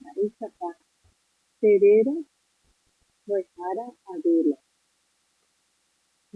Mba'éichapa che réra mbo'ehára Adela?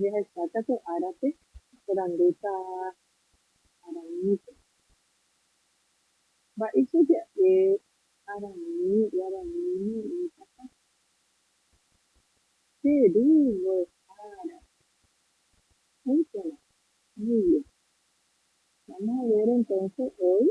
Jahecháta pe árape oporandúta Aranípe. Mba'éicha ja'e Araní guaraníme oĩtapa che ru mbo'ehára? Oĩporã. Muy bien. Vamos a ver entonces hoy.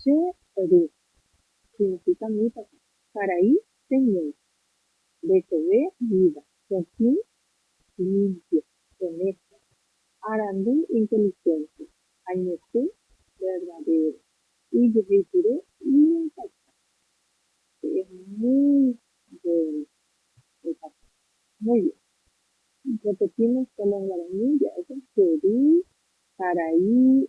Che ru, significa-mitãpa, karai che ñe'ẽ, ndecheve vida, pytĩ, limpio, honesto, arandu, inteligente, añete, verdadero, ijeheipyre, iñaikatu, che es muy bueno, ikatu, muy bien. Repetimos con los guaraní ja'éko, che ru, karai,